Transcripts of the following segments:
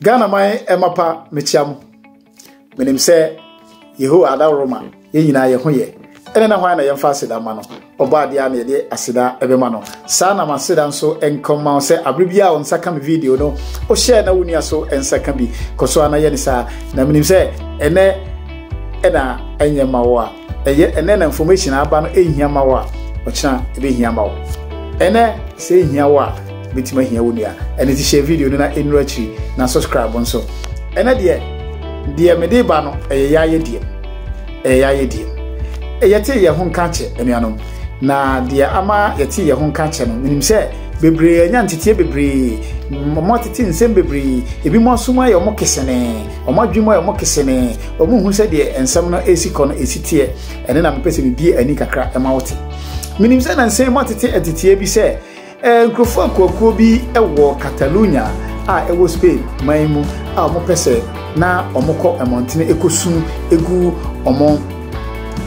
ghana man ɛma pa mekyia mo menim sɛ yehowa adaworo ma yɛn nyinaa yɛ ho yɛ ɛne na hwan na yɛmfa aseda ma no ɔbɔ adeɛ a na yɛde aseda ɛbɛma no saa na maseda nso nkɔma wo sɛ abere bi a wo nsa ka me video no wohyɛɛ na wo nua so nsa ka bi kɔ so ana yɛ ne saa na menim sɛ ɛnɛ ɛna ɛnyɛ ma wo a Ɛyɛ ɛnɛ na information a aba no ehia ma wo a, ɔkyena ebehia ma wo. Ɛnɛ sɛ ehia wo a, ebetumi ahia wo nua. Ɛne ti hyɛ video no na enuru akyiri na subscribe nso. Ɛnɛ deɛ deɛ mede ba no ɛyɛ yɛayɛ deɛ ɛyɛ yɛayɛ deɛ yɛte yɛn ho nka kyɛ anuanom na deɛ ama yɛte yɛn ho nka kyɛ no menim sɛ bebree anya nteteɛ bebree wɔn atete nsɛm bebree ebi mo asom ayɛ wɔn kesene wɔn adwuma ayɛ wɔn kesene Wɔn hu sɛdeɛ nsɛm no esi kɔ no esi teɛ, ɛne na mepɛ sɛ mebie ani kakra ɛma wote. Menim sɛ nansa yi moatete nteteɛ bi sɛ eh, nkurɔfoɔ akuakuo bi wɔ Catalunya a ɛwɔ Spain man mu a wɔpɛ sɛ na wɔkɔ mmɔntene ɛkɔsu egu wɔn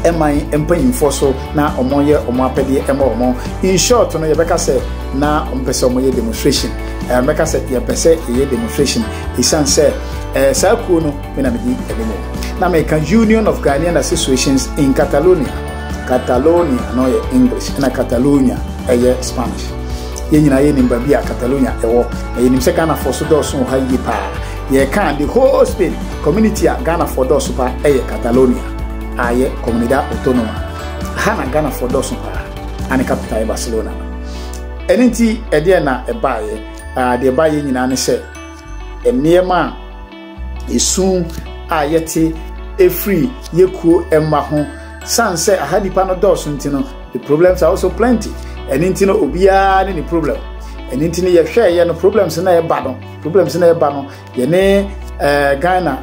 ɛman mpanyinfoɔ so na wɔyɛ wɔn apɛdeɛ ɛma wɔn. In short no yɛbɛka sɛ na wɔpɛ sɛ wɔyɛ demonstration. Ɛmɛka sɛ yɛpɛ sɛ yɛyɛ demonstration ɛsiane sɛ eh, saa kuo no me na medi anim o na meka union of ghanaian associations in catalonia catalonia na ɔyɛ english ɛna catalonia ɛyɛ spanish yɛn nyinaa yɛnim baabi a catalonia ɛwɔ na yɛnim sɛ ghanafoɔ so dɔɔso wɔ ha yie paa yɛka the whole spain community a ghanafoɔ dɔɔso paa ɛyɛ catalonia a yɛ comunidad autonoma ha na ghanafoɔ dɔɔso paa ane capital yɛ barcelona ɛno nti ɛdeɛ na ɛbaeɛ deɛ ɛbaeɛ nyinaa ne sɛ nneɛma a esu a yɛte efiri yɛ kuo mma ho san sɛ aha nipa no dɔɔso nti no the problems are also plenty ɛne nti no obiara ne ne problem ɛne nti no yɛhwɛ yɛ no problems na ɛba no problems na ɛba no yɛne ɛɛ eh, ghana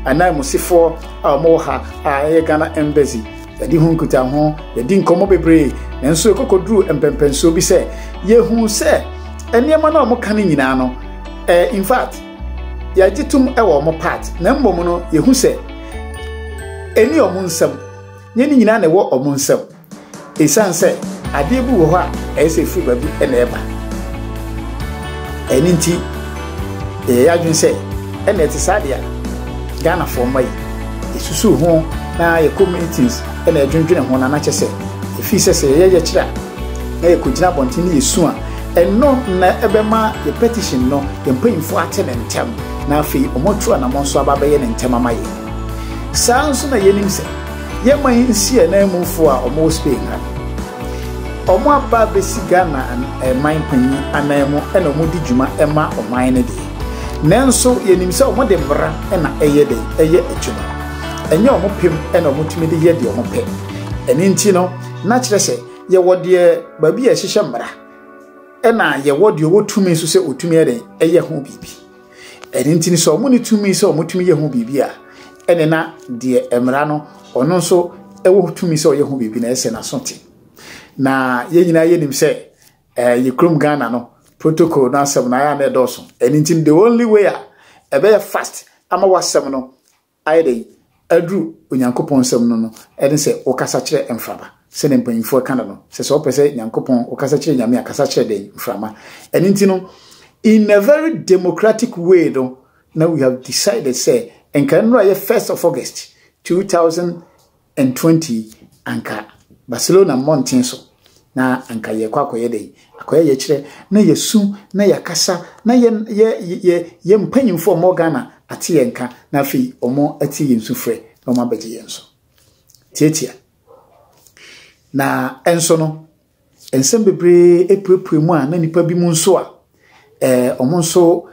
ananmusifoɔ a wɔwɔ ha a ɛyɛ ghana embassy yɛde ho nkuta ho yɛde nkɔmmɔ bebree nanso ɛkɔkɔduru mpɛmpɛnsoɔ bi sɛ yɛhu sɛ nneɛma no a wɔka no nyinaa no eh, in fact yɛgye tom wɔ wɔn part na mmom no yɛhu sɛ ɛni wɔn nsɛm nyɛ ne nyinaa na ɛwɔ wɔn nsɛm ɛsiane sɛ adeɛ bi wɔ hɔ a ɛyɛ sɛ ɛfiri baabi na ɛba ɛno nti yɛyɛ adwene sɛ ɛna ɛte saa deɛ ghanafoɔ mma yi yɛsusu ho na yɛ communities ɛna ɛdwendwene ho na anakyɛ sɛ ɛfiri sɛ sɛ yɛyɛ yɛkyerɛ a na yɛkɔgyina abɔnten na yɛsu a, ɛno na ɛbɛma yɛ petition no, yɛn mpanyimfoɔ ate no ntɛm, na afei wɔatu anammɔn so aba abɛyɛ no ntɛm ama yɛn. Saa nso na yɛnim sɛ yɛn man nsi ananmufoɔ a wɔwɔ Spain ha no, wɔaba abɛsi Ghana man panyin ananmu na wɔdi dwuma ma ɔman no deɛ. Nanso yɛnim sɛ wɔde mmara na ɛyɛ dɛn, ɛyɛ adwuma. Ɛnyɛ wɔn pem na wɔtumi de yɛ deɛ wɔpɛ. Ɛno nti no, Na kyerɛ sɛ yɛwɔ deɛ baabi a ɛhyehyɛ mmara ɛna yɛwɔ deɛ ɔwɔ tumi nso sɛ ɔtumi yɛ dɛn ɛyɛ ho biribi ɛno nti no sɛ ɔmo ne tumi sɛ ɔmo tumi yɛ ho biribi a ɛne na deɛ mmara no ɔno nso ɛwɔ tumi sɛ ɔyɛ ho biribi na ɛsɛ n'aso te na yɛn nyinaa yɛnim sɛ ɛɛ yɛ kurom Ghana no protocol no asɛm no ayɛ a na ɛdɔɔso ɛno nti the only way a ɛbɛyɛ fast ama wasɛm no Ayɛ dɛn aduru Onyankopɔn nsɛm no no ne sɛ wokasa kyerɛ mframa. Sɛnea mpanyimfo ɛka no no, sɛ sɛ wopɛ sɛ Nyankopɔn, wokasa kyerɛ Nyame a, kasa kyerɛ dɛn? Mframa. Ɛno nti no, in a very democratic way no, na we have decided sɛ nka nnora yɛ first of August, two thousand 20 anka Barcelona mmɔnten so na anka yɛrekɔ akɔyɛ dɛn? Akɔyɛ yɛkyerɛ na yɛsu na yɛakasa na yɛ yɛ yɛ yɛ mpanyimfo a wɔwɔ Ghana ate yɛn nka na afei wɔatie yɛn sufrɛ na wɔabɛgye yɛn so. Tiatia. Na ɛnso no, nsɛm bebree puepue mu a na nnipa bi mu nso a eh, wɔn nso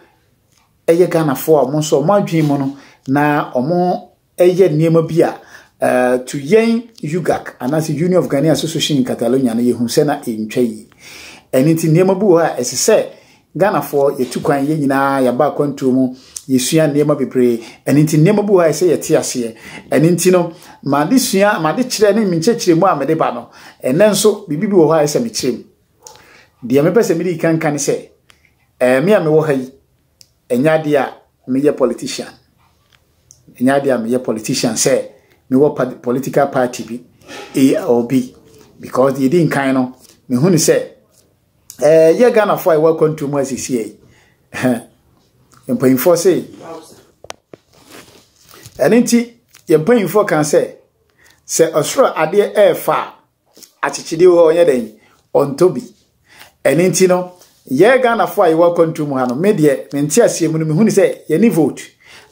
ɛyɛ Ghanafoɔ a wɔn nso wɔn adwene mu no na wɔn yɛ nneɛma bi a to yɛn UGAC anaasɛ Union of Ghanaian Association in Catalonia no yɛhu sɛ na ɛntwa yi. Ɛno nti nneɛma bi wɔ hɔ a ɛsɛ sɛ Ghanafoɔ yɛtu kwan yɛn nyinaa yɛaba akwantuo mu yɛsua nneɛma bebree ɛno nti nneɛma bi wɔ hɔ a ɛsɛ yɛte aseɛ ɛno nti no made sua made kyerɛ ne menkyerɛkyerɛmu a mede ba no ɛnɛ nso biribi bi wɔ hɔ a ɛsɛ mekyerɛ mu deɛ mepɛ sɛ mede kanka ne sɛ ɛɛ me a mewɔ ha yi Ɛnyɛ adeɛ a meyɛ politician. Ɛnyɛ adeɛ a meyɛ politician sɛ mewɔ political party bi or bi because deɛ ɛdi nkan no mehu ne sɛ ɛɛ yɛ Ghanafoɔ a ɛwɔ akwantuo mu asiesie yi mpanyinfoɔ se ɛno nti yɛn mpanyinfoɔ kan sɛ sɛ ɔsoro adeɛ ɛɛfa a Akyekyede wɔ hɔ ɔnyɛ dɛn? Ɔntɔ bi. Ɛno nti no, yɛ Ghanafoɔ a yɛwɔ akwantuo mu ha no, me deɛ, me nteaseɛ mu no, mehu no sɛ yɛne vote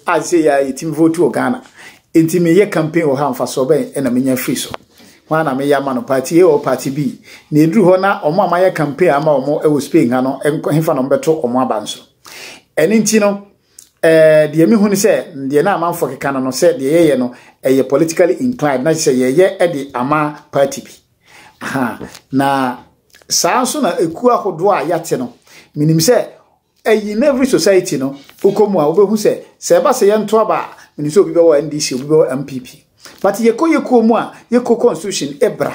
a sɛ yɛ a yɛtumi vote wɔ Ghana. Nti meyɛ campaign wɔ ha mfasoɔ bɛn na menya firi so? Hwan na meyɛ ama no? Party A or Party B? Na ɛduru hɔ na wɔn a mayɛ campaign ama wɔn wɔ Spain ha no, hefa na wɔbɛto wɔn aba nso? Ɛno nti no, Eh, deɛ mehu ne sɛ, deɛ na amanfoɔ keka no no, sɛ deɛ yɛyɛ no, ɛyɛ politically inclined, na sɛ yɛyɛ de ama party bi. Aha, na saa nso na ekuo ahodoɔ a yɛate no, menim sɛ, ɛyi in every society no, wokɔ mu a wobɛhu sɛ, sɛ ɛba sɛ yɛnto aba a, menim sɛ obi bɛwɔ NDC, obi bɛwɔ MPP. But yɛkɔ yɛkuo mu a, yɛkuo constitution ebra.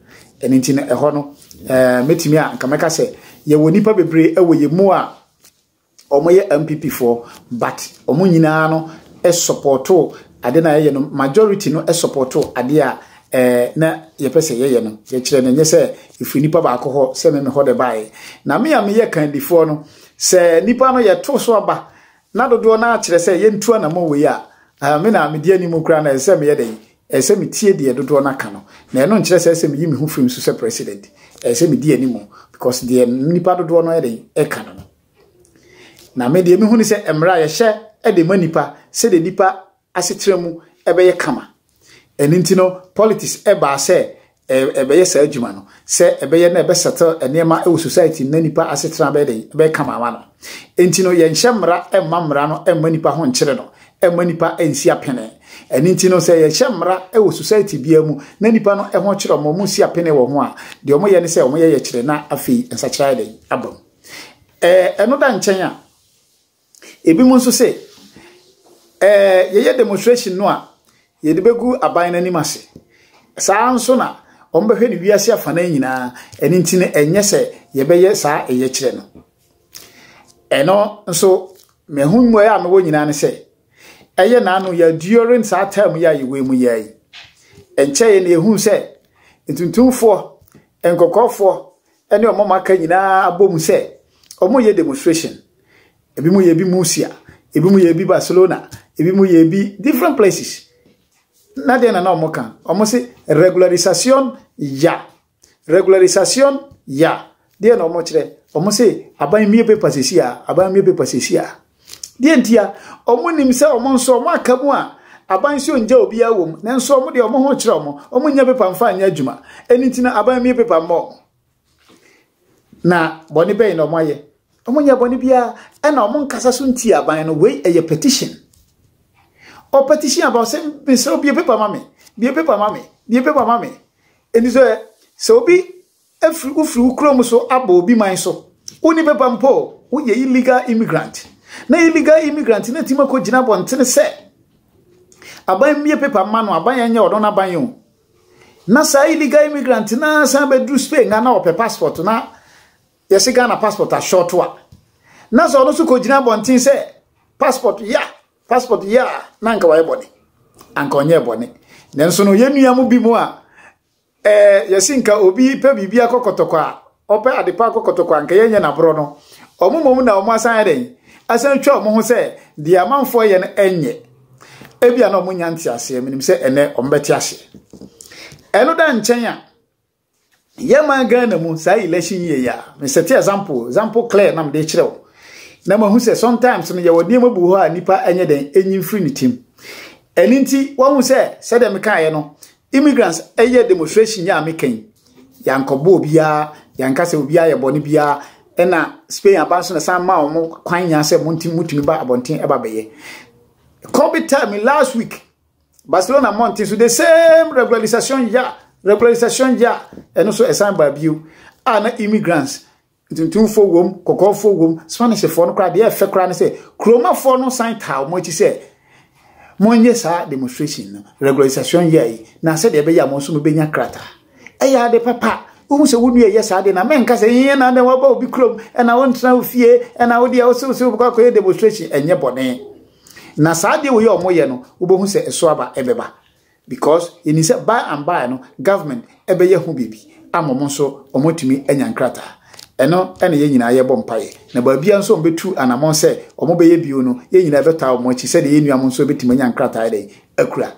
Ɛno nti no ɛhɔ no mɛtumi a nka mɛka sɛ yɛwɔ nnipa bebree ɛwɔ yɛ mu a wɔyɛ MPP foɔ but wɔn nyinaa no ɛsɔpɔto ade no a yɛyɛ no majority no ɛsɔpɔto ade a ɛɛ na yɛpɛ sɛ yɛyɛ no yɛkyerɛ no nyɛ sɛ ɛfiri nnipa baako hɔ sɛ me mehɔ de baeɛ na me a meyɛ kandifoɔ no sɛ nnipa no yɛto so aba na dodoɔ no akyerɛ sɛ yɛntu anamɔ wei a me na medi anim koraa na ɛsɛ sɛ meyɛ dɛn Ɛsɛ sɛ metie deɛ dodoɔ no aka no, na ɛno nkyerɛ sɛ ɛsɛ sɛ meyi me ho firi mu so sɛ president. Ɛsɛ sɛ medi anim because deɛ nnipa dodoɔ no yɛ den ɛka no no. Na me deɛ mehu ne sɛ mmara a yɛhyɛ de ma nnipa sɛdeɛ nnipa asetena mu ɛbɛyɛ kama. Ɛno nti no politics ɛbaa sɛ ɛbɛyɛ saa adwuma no sɛ ɛbɛyɛ na ɛbɛsɛtɛ nneɛma wɔ society no na nipa asetena bɛyɛ dɛn bɛyɛ kama ama no enti no yɛnhyɛ mmara mma mmara no mma nipa ho nkyerɛ no ɛmma nipa nsi apene ɛno nti no sɛ yɛhyɛ mmara wɔ society biara mu na nipa no ɛho kyerɛ wɔn wɔn si apene wɔ ho a deɛ wɔn yɛ ne sɛ wɔn yɛ yɛkyerɛ na afei nsakyera yɛ dɛn abam ɛɛ ɛno da nkyɛn a Ebinom nso se, Ɛɛ, yɛyɛ demonstration no a, yɛde begu aban no anim ase. Saa ara nso na wɔbɛhwɛ no wiase afanan nyinaa, ɛno nti no ɛnyɛ sɛ yɛbɛyɛ saa ɛyɛkyerɛ no. Ɛno nso, meho mmuae a mewɔ nyinaa ne sɛ, ɛyɛ n'ano yɛ during saa term yi a yɛwɔ mu yɛ yi. Ɛnkyɛe na yɛhuu sɛ ntuntumfoɔ, nkɔkɔɔfoɔ, ne wɔn a wɔaka nyinaa abom sɛ wɔreyɛ demonstration. Ebinom yɛ bi Murcia, ebinom yɛ bi Barcelona, ebinom yɛ bi different places. Na deɛ na na wɔka, wɔse regularisation ya, regularisation ya. Deɛ na wɔkyerɛ, wɔse aban mmue paper sisi a, aban mmue paper sisi a. Deɛ ntia, wɔn nim sɛ wɔn nso wɔn aka mu a aban nso ngya obiara wɔ mu, nanso wɔn deɛ wɔn ho kyerɛ wɔn, wɔn nyɛ pepa mfa nyɛ adwuma, ɛni nti na aban mie pepa mmɔ wɔn. Na bɔne bɛyɛ na wɔn ayɛ, wɔn nyɛ bɔne biara, ɛna wɔn nkasa so nti aban no, wei ɛyɛ petition. Ɔ petition aban sɛ mesrɛ bie pepa ma me, bie pepa ma me, bie pepa ma me. Ɛni sɛ sɛ obi Afiri wofiri wo kuro mu so abɔ obi man so wonni paper mpo woyɛ illegal immigrant na illegal immigrant na timi akɔ gyina abɔntene sɛ aban mmie paper mma no aban ɛnyɛ ɔno no aban yɛn na saa illegal immigrant na san bɛduru Spain na ɔpɛ passport na yɛse Ghana passport ashɔto a na sɛ ɔno so kɔ gyina abɔntene sɛ passport ya passport ya na nka wayɛ bɔne anka ɔnyɛ bɔne nanso no yɛnnua mu bi mu a Ɛɛ yɛsi nka obi pɛ biribi akɔ kɔtɔkɔ a, ɔpɛ ade pa akɔ kɔtɔkɔ a, nka yɛnyɛ n'aborɔ no. Wɔn mmom na wɔn asan yɛ dɛn? Asan twa wɔn ho sɛ deɛ amanfoɔ yɛ no ɛnyɛ. Ebia na wɔn nya nte aseɛ, menim sɛ ɛnɛ wɔn bɛte aseɛ. Ɛno da nkyɛn a, yɛ man Ghana mu saa election yie yi a, mesɛte example, example clear na mede kyerɛ wo. Na mahu sɛ sometimes no yɛwɔ nneɛma bu hɔ a nipa ɛnyɛ dɛn, ɛnyi mfiri ne tim. Ɛno nti, wahu sɛ sɛdeɛ mekaeɛ no, Immigrants ɛyɛ demonstration yɛ a me kɛn yankɔbɔ obiara yanka sɛ obiara yɛ bɔne biara ɛna Spain aba nso na san ma wɔn kwan nyaa sɛ mo nti mutumi ba abɔnten ɛba bɛyɛ Kobe tell me last week Barcelona mmɔnten so the same regularization ya regularization ya ɛno so ɛsan baa bio a na immigrants Ntuntumfoɔ wom, kɔkɔɔfoɔ wom, Spanishfoɔ no koraa, deɛ ɛyɛ fɛ koraa ne sɛ, kuromafoɔ no san taa wɔn akyi sɛ, monyɛ saa demonstration no, regularisation year yi, na sɛdeɛ ɛbɛyɛ a wɔn nso wɔbɛnya krataa. Ɛyɛ ade papa. Wohu sɛ wo nua ɛyɛ saa deɛ na mɛnka sɛ, ee na dɛn waba obi kurom, ɛna wontena wo fie, ɛna wo deɛ wose wose wobɛkɔ akɔyɛ demonstration, ɛnyɛ bɔne. Na saa deɛ wei a wɔyɛ no, wobɛhu sɛ ɛso aba ɛbɛba. Because yɛnim sɛ by and by no government bɛyɛ ho biribi ama wɔn nso wɔatumi anya nkrataa. Ɛno na yɛn nyinaa yɛbɔ mpaeɛ. Na baabiara nso wɔbɛtu anammɔn sɛ wɔbɛyɛ bio no, yɛn nyinaa bɛtaa wɔn akyi sɛdeɛ yɛn nuanom nso bɛtumi anya nkrataa dɛn akura.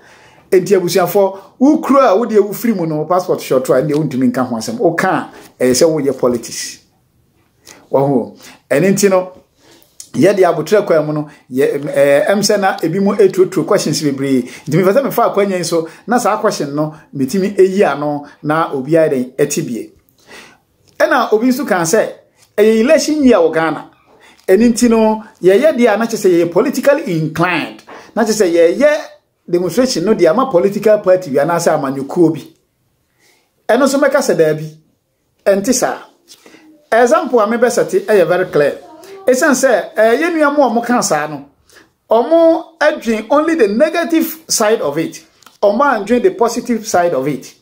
Enti abusuafoɔ, wokura a wodeɛ wofiri mu no passport hyɛ ɔto a ɛndeɛ wontumi nka ho asɛm. Woka a ɛyɛ sɛ woyɛ politics. wɔho ɛne nti no yɛde abotrɛ kwan mu no yɛ ɛɛ ɛm sɛ na ebi mu etuotuo questions bebree nti mefɛ sɛ mefa akwanya yi so na saa question no metumi eyi ano na obiara dɛn ɛte bie ɛna obi nso kan sɛ ɛyɛ election year wɔ Ghana ɛne nti no yɛyɛ deɛ a na kyɛ sɛ yɛyɛ politically inclined na kyɛ sɛ yɛyɛ demonstration no deɛ ama political party bi anaasɛ amanyɔkuo bi ɛno nso mɛka sɛ daabi Ɛnte saa. Example a me bɛ sɛte ɛyɛ very clear. Ɛsiane sɛ ɛɛ yɛn nua mo a wɔn ka saa no, wɔn adwin only the negative side of it. Wɔn andwin the positive side of it.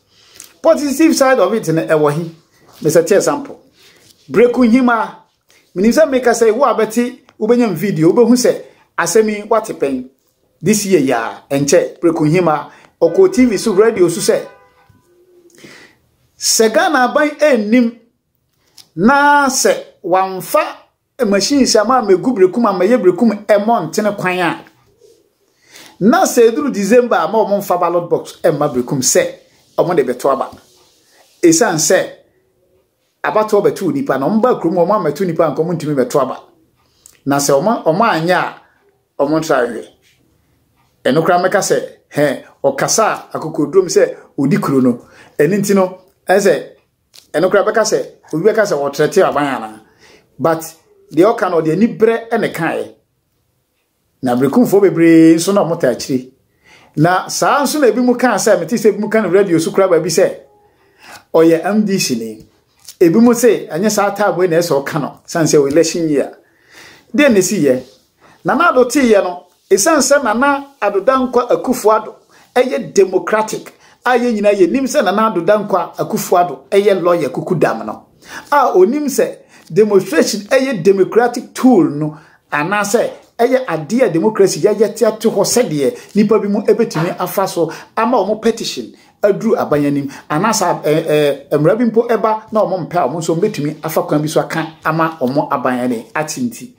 Positive side of it no ɛwɔ he. Me sɛte example. Breku nhima. Menim sɛ meka sɛ wo a bɛte wobɛnyam video wobɛhu sɛ asɛm yi wate pɛn. This year ya ɛnkyɛ preko hima ɔkɔɔ TV so radio so sɛ sɛ Ghana aban ɛnnim na sɛ wamfa machine sɛ ama mɛgu brekum ama yɛ brekum ɛmɔ ntene kwan a na sɛ ɛduru December ama wɔn mfa ballot box ɛmma brekum sɛ wɔn de bɛto aba ɛsiane sɛ abatoɔ bɛto nipa na wɔn ba kurom wɔn amɛto nipa nkɔm ntumi bɛto aba na sɛ wɔn wɔn anyɛ a Ɔmo ntra nhwɛ. Ɛno koraa mɛka sɛ hɛ ɔkasa a akokoduro mu sɛ odi kuro no. Ɛno nti no ɛsɛ ɛno koraa bɛka sɛ obi bɛka sɛ ɔtrɛte aban anaa. But deɛ ɔka no ɔde anibrɛ na ɛkaeɛ. Na berekumfoɔ bebree nso na ɔmo taa akyire. Na saa nso na ebi mu kaa sɛ mete sɛ ebi mu ka no radio so kura baabi sɛ ɔyɛ MDC ni. Ebi mu se ɛnyɛ saa taabo na ɛsɛ ɔka no san sɛ election year. Dɛn na esi yɛ? Nana Ado tee yɛ no esan sɛ Nana Ado Dankwa Akufo Ado ɛyɛ democratic a yɛn nyinaa yɛ nim sɛ Nana Ado Dankwa Akufo Ado ɛyɛ lawyer kuku dam no a onim sɛ demonstration ɛyɛ democratic tool no anaasɛ ɛyɛ adeɛ a demokrasi yɛyɛ te ato hɔ sɛdeɛ nnipa bi mu ɛbɛtumi afa so ama wɔn petition aduru aban anim anaasɛ mmara bi mpo ɛba na wɔn mpɛ a wɔn nso wɔbɛtumi afa kwan bi so aka ama wɔn aban ɛne ate nti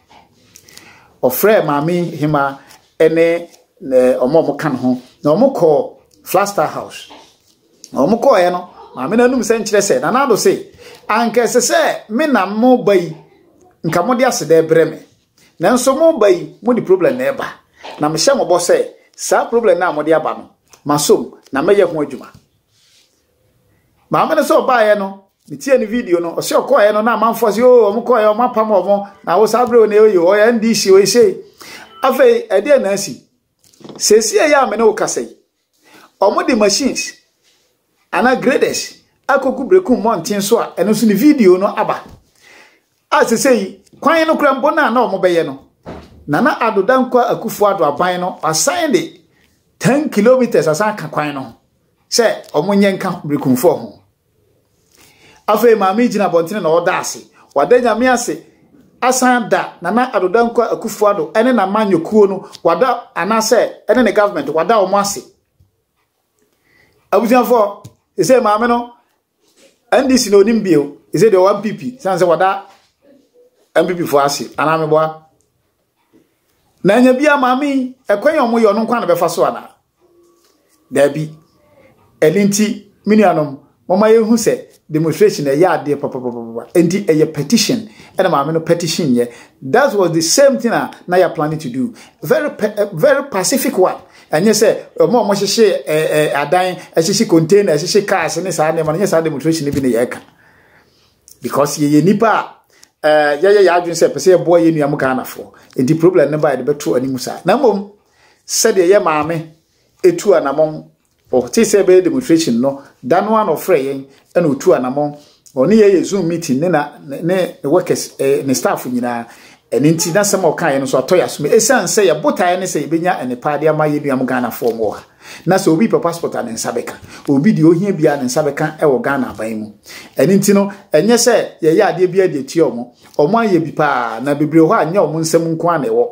ɔfrɛ maame hema ɛne wɔn a wɔka ne ho na wɔkɔ Flagstaff House na wɔn kɔɔɛ no maame no anum sɛ nkyerɛ sɛ nana ado se anka ɛsɛ sɛ me na mo ba yi nka mo de asedɛ brɛ me nanso mo ba yi mo de problem na ɛba na mehyɛ mo bɔ sɛ saa problem na mo de aba no masom na mɛyɛ ho adwuma maame no sɛ ɔbaeɛ no metie ne video no ɔsɛ ɔkɔɔɛ no na amanfoɔ sɛ o wɔn kɔɔɛ wɔn apam wɔn na wo saa berɛ ne ɔyɛ ɔyɛ ndc ɔyɛ sei afei ɛdeɛ na asi sɛsi ɛyɛ a me ne wo kasa yi Wɔde machines anaa graders akɔgu Berekum mmɔnten so a ɛno nso ne video no aba. A sese yi, kwan no kora mpo no a na wɔbɛyɛ no, Nana Addo Dankwa Akufo Addo aban no asan de 10 kilometers asan aka kwan no ho sɛ wɔnyɛ nka Berekumfoɔ ho. Afei maame yi gyina abɔntene na ɔda ase. Wada nyame ase asan da Nana Addo Dankwa Akufo-Addo ne n'amanyɔkuo no wada anaasɛ ne ne government wada wɔn ase. Abusuafoɔ, ɛsɛ maame no NDC na onim bio, ɛsɛ deɛ ɔwɔ MPP, sane sɛ wada MPP foɔ ase, anaa meboa. Na anya bia maame yi ɛkwan a wɔyɛ ɔno nkwa na bɛfa so ana? Daabi. Ɛno nti me nuanom mɔma yɛhu sɛ demonstration ɛyɛ adeɛ papapapapa nti ɛyɛ petition ɛna maame no petition yɛ that was the same thing a na yɛ planning to do very very pacific one ɛnyɛ sɛ ɔmo a ɔmo hyehye ɛɛ adan ɛhyehye container ɛhyehye cars ne saa nneɛma no nyɛ saa demonstration bi ne yɛ ɛka because yɛyɛ nipa a ɛɛ eh, yɛyɛ yɛ adwene sɛ pɛ sɛ yɛboa yɛn nuam ghanafoɔ nti problem no ba yɛde bɛto anim saa na mmom sɛdeɛ yɛ maame etu anamɔn ɔte sɛ ɛbɛyɛ demonstration no da no ano frɛ yɛn ɛna otu anamɔn ɔne yɛ yɛ zoom meeting ne na ne ne workers ɛɛ eh, ne staff nyinaa ɛne nti n'asɛm a ɔka yɛn no so atɔ yɛ asom esan sɛ yɛ botaeɛ ne sɛ yɛbɛnya nnepa de ama yɛ nuam ghanafoɔ mu wɔ ha. Na sɛ obi pɛ passport a ne nsa bɛka. Obi deɛ ohia biara ne nsa bɛka wɔ Ghana aban mu. Ɛno nti no, ɛnyɛ sɛ yɛyɛ adeɛ biara de atua wɔn. Wɔn ayɛ bi paa, na bebree hɔ a nyɛ wɔn nsam nko ara na ɛwɔ.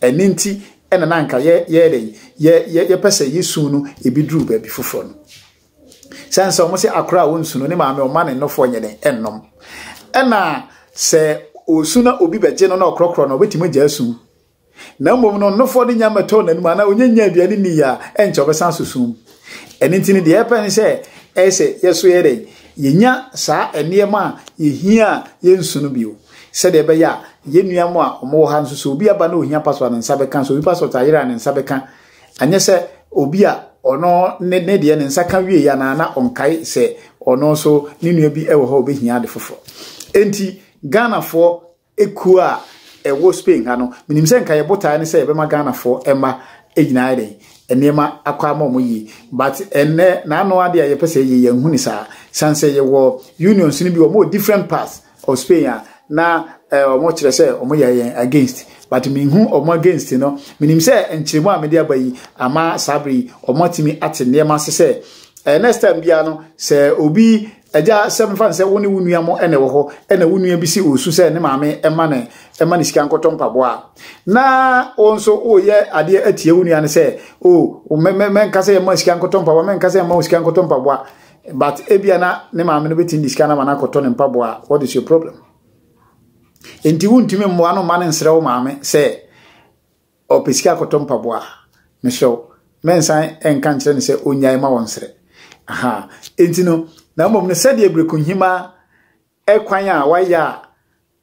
Ɛno nti na na anka yɛ yɛyɛ dɛn? Yɛ yɛ yɛpɛ sɛ yɛsu no ebi duru baabi foforɔ no. Sɛn sɛ wɔn sɛ akora a wɔnsu no ne maame ɔma ne nnɔfoɔ nyɛ dɛn ɛnnom. Ɛna sɛ ɔsu na obi bɛgye no na ɔkorɔkorɔ no, ɔbɛtumi agya asu. Na mmom no, nofoɔ de nya mmɛtɔɔ n'anom anaa ɔnya nya aduane nni yɛ a, ɛnkyɛ ɔbɛsan aso sum mu. Ɛno nti no, deɛ yɛpɛ ne sɛ ɛyɛ sɛ yɛso yɛ dɛn? Yɛnya saa nneɛma a yɛhia a yɛnsu no bio, sɛdeɛ ɛbɛyɛ a yɛn nua mo a wɔwɔ ha nso, sɛ obi aba na ɔhia passport a ne nsa bɛka, sɛ obi passport ayera a ne nsa bɛka, anyɛ sɛ obi a ɔno ne ne deɛ ne nsa ka wieɛ anaa na ɔnkae sɛ ɔno nso ne nua bi wɔ hɔ a ɔbɛhia ade foforɔ. Enti Ghanafoɔ Ekuo a ɛwɔ Spain ha no, menim sɛ nka yɛ botaeɛ ne sɛ yɛbɛma Ghanafoɔ mma nyinaa ayɛ dɛn, nneɛma akɔ ama wɔn yie. But ɛnnɛ, n'ano adeɛ a yɛpɛ sɛ yɛyɛ, yɛnhu ne saa. Sane sɛ yɛwɔ unions no bi, wɔn wɔ different parts of Spain a, na eh, wɔn kyerɛ sɛ wɔn yɛ yɛn against. But menhu wɔn against no. Menim sɛ nkyerɛmu a mede aba yi, ama saa bere yi, wɔn atumi ate nneɛma ase sɛ, eh, next time biara no, sɛ obi Agya, sɛ mefa no sɛ wo ne wo nua mo na ɛwɔ hɔ, ɛna wo nua bi si ɔresu sɛ ne maame ɛma ne ɛma ne sika nkɔtɔ mpaboa na wo nso woyɛ adeɛ atia wo nua no sɛ o oh, mɛnka sɛ ɛma sika nkɔtɔ mpaboa mɛnka sɛ ɛma wo sika nkɔtɔ mpaboa but ebia na ne maame no bɛtumi de sika no ama no akɔtɔ ne mpaboa what is your problem nti wontumi mmoa no mma no nsrɛ wo maame sɛ Ɔpɛ sika kɔtɔ mpaboa a, mesrɛ wo, mɛnsan nka nkyerɛ no sɛ ɔnnyae ma wɔnsrɛ. Aha. Enti no, na mmom no, sɛdeɛ Berekohima kwan a wayɛ a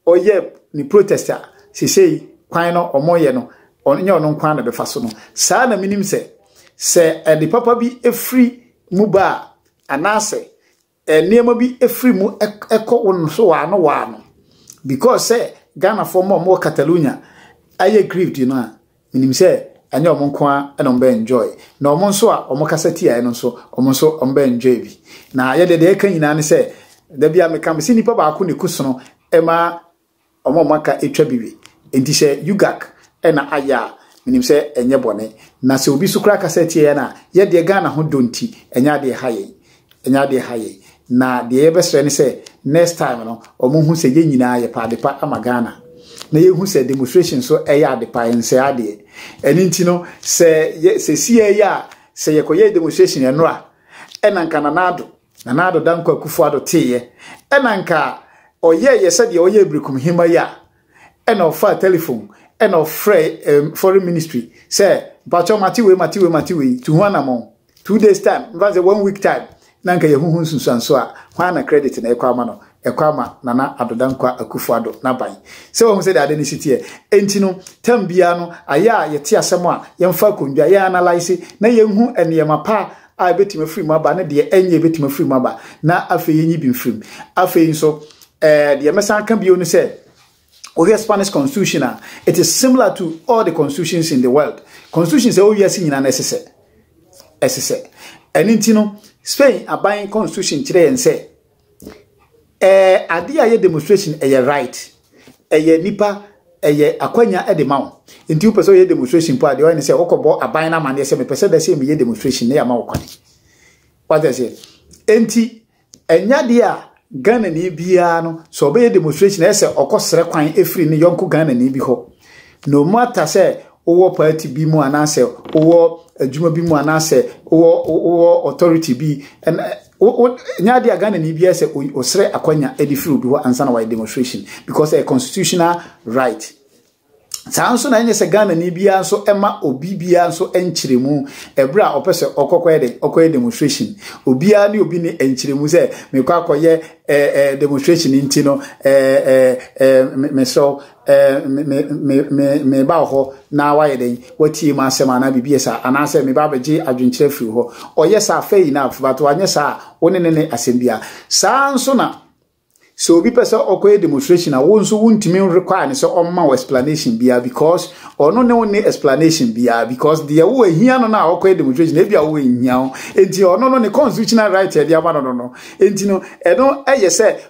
ɔyɛ ne protest a sesei kwan no wɔyɛ no, ɛnyɛ ɔno nko ara na ɛbɛfa so no, saa na menim sɛ, sɛ ade papa bi firi mu ba a, anaasɛ nneɛma bi firi mu kɔ wo no so waano waano because sɛ Ghanafoɔ mma wɔn wɔ Catalonia ayɛ grieved no a menim sɛ ɛnyɛ wɔn nko ara na wɔn bɛ enjoy na wɔn nso a wɔn kasa tiaeɛ no nso wɔn nso wɔn bɛ enjoy bi na yɛde deɛ ɛka nyinaa ne sɛ dabi a meka me sɛ nipa baako na ɛku sono ɛma Wɔn a wɔaka atwa bi we. Enti sɛ UGAC na ayɛ a, menim sɛ ɛnyɛ bɔne. Na sɛ obi nso koraa kasa tia yɛn a, yɛn deɛ Ghana ho dɔ nti, ɛnyɛ adeɛ ɛha yɛn. Ɛnyɛ adeɛ ɛha yɛn. Na deɛ yɛbɛsrɛ ne sɛ, next time no, wɔnhu sɛ yɛn nyinaa yɛpɛ adepa ama Ghana. Na yɛnhu sɛ demonstration nso yɛ adepa, ɛnsɛe adeɛ. Ɛno nti no, sɛ yɛ, seesei ara yi a, sɛ yɛkɔyɛɛ demonstration nnora, ɛna anka Nana Addo, Nana Addo Dankwa Akufo-Addo teeɛ, ɛna anka ɔyɛeɛ sɛdeɛ ɔyɛɛ Berekumhima yi a, ɛna ɔfaa telephone, ɛna ɔfrɛɛ eh, foreign ministry sɛ, mpakyɛw mate wei, mate wei, mate wei, tu ho anamɔn. Two days time, mfa sɛ one week time, na anka yɛhuhu nsunsuanso a, hwan na credit na ɛkɔ ama no? Ɛkɔ ama Nana Addo Dankwa Akufo-Addo n'aban. Sɛ wahu sɛdeɛ ade no si teɛ. Enti no, tam biara no, ayɛ a yɛte asɛm a, yɛmfa akondwa, yɛn analyse, na yɛnhu nneɛma pa a ɛbɛtumi afiri mu aba ne deɛ ɛnyɛ ɛbɛtumi afiri mu aba na afei yɛnyi bi mfirim afei nso ɛɛ deɛ mɛsan ka bio ne sɛ wohwɛ Spanish constitution a it is similar to all the constitutions in the world constitution sɛ wɔwiase nyinaa na ɛsesɛ ɛsesɛ ɛne nti no Spain aban constitution kyerɛ yɛn sɛ Ɛɛ adeɛ a ɛyɛ demonstration ɛyɛ right. Ɛyɛ nipa ɛyɛ akwanya de ma wo. Nti wopɛ sɛ woyɛ demonstration mpo a deɛ ɔyɛ ne sɛ wokɔbɔ aban no amanneɛ sɛ mepɛ sɛ da sɛ meyɛ demonstration na yɛama wo kwan. Wate aseɛ? Nti ɛnyɛ adeɛ a Ghanani biara no sɛ ɔbɛyɛ demonstration ɛyɛ sɛ ɔkɔsrɛ kwan ɛfiri ne yɔnko Ghanani bi hɔ. No matter sɛ wowɔ party bi mu anaasɛ wowɔ adwuma bi mu anaasɛ wowɔ wowɔ authority bi ɛna wo wo nyɛ adeɛ a Ghanani biara sɛ ɔsrɛ akwanya de firi obi hɔ ansa na wayɛ demonstration because ɛyɛ constitutional right saa nso na ɛnyɛ sɛ Ghanani biara nso ɛma obi biara nso nkyerɛmu ɛberɛ a ɔpɛ sɛ ɔkɔkɔyɛ dɛ ɔkɔyɛ demonstration obiara ne obi ne nkyerɛmu sɛ mekɔ akɔyɛ ɛɛ demonstration nti no ɛɛ ɛɛ mesrɛ me ba wɔ hɔ na wayɛ dɛn watie mu asɛm anaa biribi yɛ saa anaasɛ me ba bɛgye adwenkyerɛ firi hɔ ɔyɛ saa fɛ yi na but wanyɛ saa a wo ne ne ne asɛm bia saa nso na sɛ obi pɛ sɛ ɔkɔyɛ demonstration a wo nso wontumi require ne sɛ ɔmma wo explanation biara because ɔno ne wo ne explanation biara because deɛ wo ahia no no a ɔkɔyɛ demonstration ebi a wo ahia ho nti ɔno no ne constitutional right ɛde ama no no no nti no ɛno ɛyɛ sɛ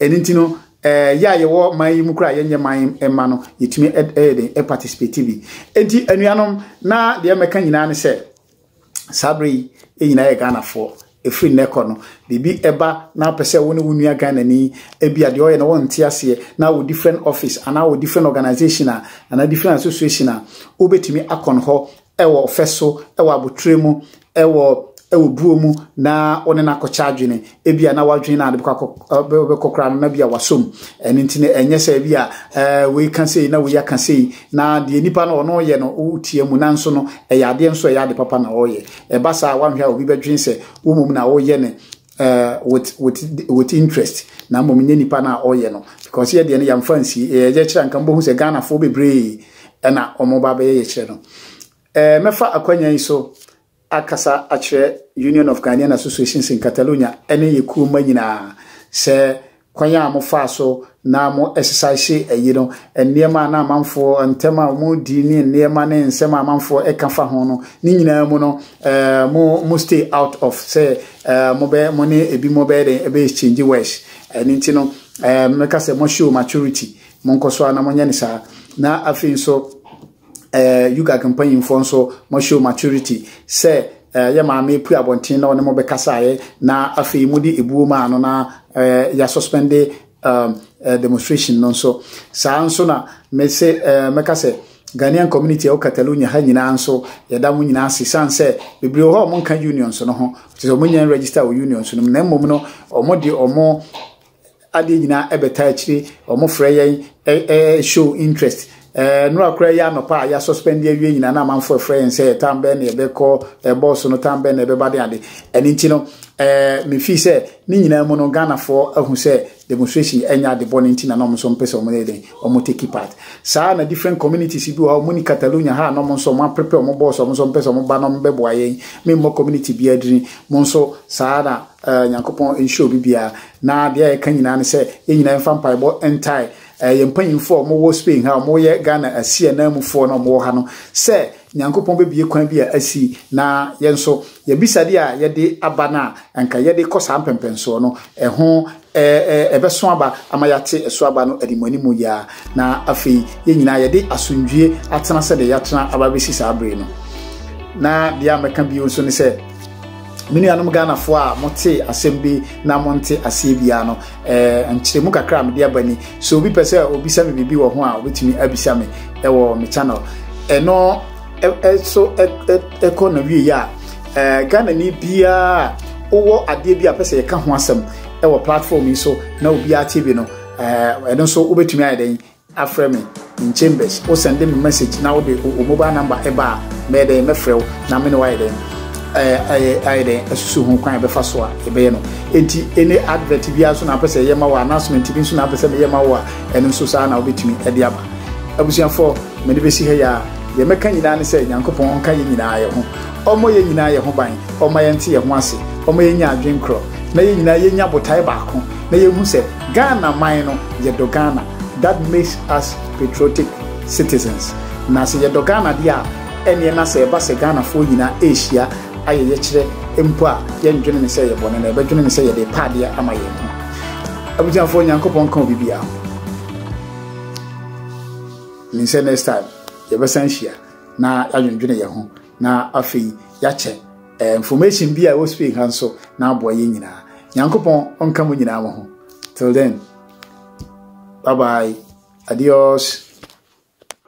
ɛno nti no ɛɛ yɛ a yɛwɔ man yi mu kura a yɛnyɛ man mma no yɛtumi ɛyɛ den ɛparticipate bi nti anuanom na deɛ mɛka nyinaa ne sɛ saa bere yi yɛ nyinaa yɛ ghanafoɔ ɛfiri nnɛ kɔ no biribi ɛba na wopɛ sɛ wo ne wo nua ghanani ebi a deɛ ɔyɛ na wɔnte aseɛ na wɔ different office anaa wɔ different organization a anaa different association a wobɛtumi akɔn hɔ ɛwɔ ɔfɛ so ɛwɔ abotrɛ mu wɔ wɔ buo mu na wo ne no akɔkyɛ adwene ebi a na wadwene na ade bɛkɔ koraa no na bi a wasɔ mu ɛno nti no ɛnyɛ sɛ bi a wei ka sei na wei aka sei na deɛ nipa no ɔno yɛ no wotia mu nanso no ɛyɛ adeɛ nso ɛyɛ ade papa na ɔyɛ ɛba saa a wanhwɛ a obi bɛdwene sɛ wo mmom na woyɛ no uh, with, with, with interest na mmom nyɛ nipa no a ɔyɛ no because yɛ deɛ no yɛmfa nsie yɛyɛ kyerɛ nka mbɔhu sɛ ghanafoɔ bebree ɛna ɔmo ba bɛyɛ yɛkyerɛ no Eh, mɛfa akwanya yi so akasa akyerɛ Union of Ghanaian Associations in Catalonia ne yɛ kuo mma nyinaa sɛ kwan a mofaa so na mo ɛsesaehye ayi no, nneɛma a na amanfoɔ, ntɛm a wɔn di ne nneɛma ne nsɛm a amanfoɔ ɛka fa ho no, ne nyinaa mu no, eh, mo, mo stay out of sɛ eh, mo bɛ, mo ne ebi mo bɛyɛ dɛn ɛbɛ exchange words. Ɛno nti no, eh, mɛka sɛ mo show maturity, mo nkɔ so a na mo nyɛ ne saa. Na afei nso, eh, UGAG mpanyimfoɔ nso mo show maturity sɛ eh, yɛ maame pu abɔnten na ɔne mo bɛkasaeɛ na afei mode ebuo maa no na eh, yɛasuspende um, eh, demonstration no nso saa nso na mese eh, mɛka sɛ Ghanaian community ɛwɔ Catalonia ha nyinaa nso yɛda mo nyinaa ase san sɛ bebree wɔ hɔ a wɔnka unions no ho te sɛ wɔnyɛ register wɔ unions no mu na mmom no wɔde wɔn adeɛ nyinaa ɛbɛtaa akyire wɔn frɛ yɛn ɛɛ show interest ɛɛ no akora yi anɔpa a yɛasuspend awie nyinaa na amanfoɔ frɛ yɛn sɛ tam bɛn na yɛbɛkɔ ɛbɔɔso no tam bɛn na ɛbɛba de ade ɛne nti no ɛɛ mefi sɛ ne nyinaa mu no ghanafoɔ ahu sɛ demonstration ɛnyɛ ade bɔ ne nti na na wɔn nso mpɛ sɛ wɔn yɛ den wɔn take part saa na different communities bi wɔ hɔ wɔn ni catalonia ha na wɔn nso wɔn aperepe wɔn bɔɔso wɔn nso mpɛ sɛ wɔn ba na wɔn bɛboa yɛn memmɔ community bi adirin mo nso saa na Eh, Nyankopɔn nhyɛ obi biara. Na deɛ yɛka nyinaa ne sɛ, yɛn nyinaa mfa mpaebɔ ntae eh, yɛn mpanyinfoɔ a wɔwɔ Spain ha, wɔyɛ Ghana asi ananmufoɔ na wɔwɔ ha no, sɛ Nyankopɔn bɛbie kwan bi a asi, na yɛn nso, yɛabisadeɛ a yɛde aba no a, anka yɛde kɔ saa mpɛmpɛnsoɔ no, ɛho Ɛ, ɛ, ɛbɛso aba ama yɛate ɛso aba no animuanimu yi ara, na afei yɛn nyinaa yɛde asomdwoeɛ atena sɛdeɛ yɛatena aba bɛsi saa bere yi no. Na deɛ a mɛka bio nso ne sɛ, me nuanom Ghanafoɔ a mote asɛm bi na monte aseɛ biara no, ɛ, nkyerɛmu kakra a mede aba ni. Sɛ obi pɛ sɛ obisa me biribi wɔ ho a, obɛtumi abisa me wɔ me channel. Ɛno. ɛso ɛkɔ na wie yɛ a ɛɛ ghana ni biara wowɔ adeɛ bi a pɛ sɛ yɛka ho asɛm ɛwɔ platform yi so na obiara te bi no ɛɛ ɛno nso wobɛtumi ayɛ dɛn afrɛ me in chambers wo send me message na wode o mobile number ɛba a mɛyɛ dɛn mɛfrɛ wo na me ne wayɛ dɛn ɛɛ ayɛ dɛn asusu ho kwan ɛbɛfa so a ɛbɛyɛ no enti ɛne advert biara so na apɛ sɛ ɛyɛ ma wo announcement bi nso na apɛ sɛ meyɛ ma wo a ɛno nso saa na wobɛtumi ɛde aba abusuafoɔ mene bɛsi ha yɛ a Deɛ mɛka nyinaa ne sɛ Nyankopɔn ɔnka yɛn nyinaa yɛn ho, ɔmmɔ yɛn nyinaa yɛn ho ban, ɔmma yɛnte yɛn ho ase, ɔmma yɛnya adwene korɔ, na yɛn nyinaa yɛnya botae baako, na yɛnhu sɛ Ghana man no, yɛdɔ Ghana, that makes us patriotic citizens. Na sɛ yɛdɔ Ghana deɛ a, ɛnneɛ na sɛ ɛba sɛ Ghanafoɔ nyinaa rehyia ayɛ yɛkyerɛ mpo a, yɛndwene no sɛ ɛyɛ bɔne, na yɛbɛdwene no sɛ yɛde repa adeɛ ama yɛn ho. Abusuafoɔ, Nyankopɔn nka obibiara ho. Min sɛ next time yɛbɛsan hyia na yɛadwendwene yɛn ho na afei yɛakyɛ eh, information bi a ɛwɔ spain ha nso na aboa yɛn nyinaa nyankopɔn ɔnka mo nyinaa mo ho till then bye bye adios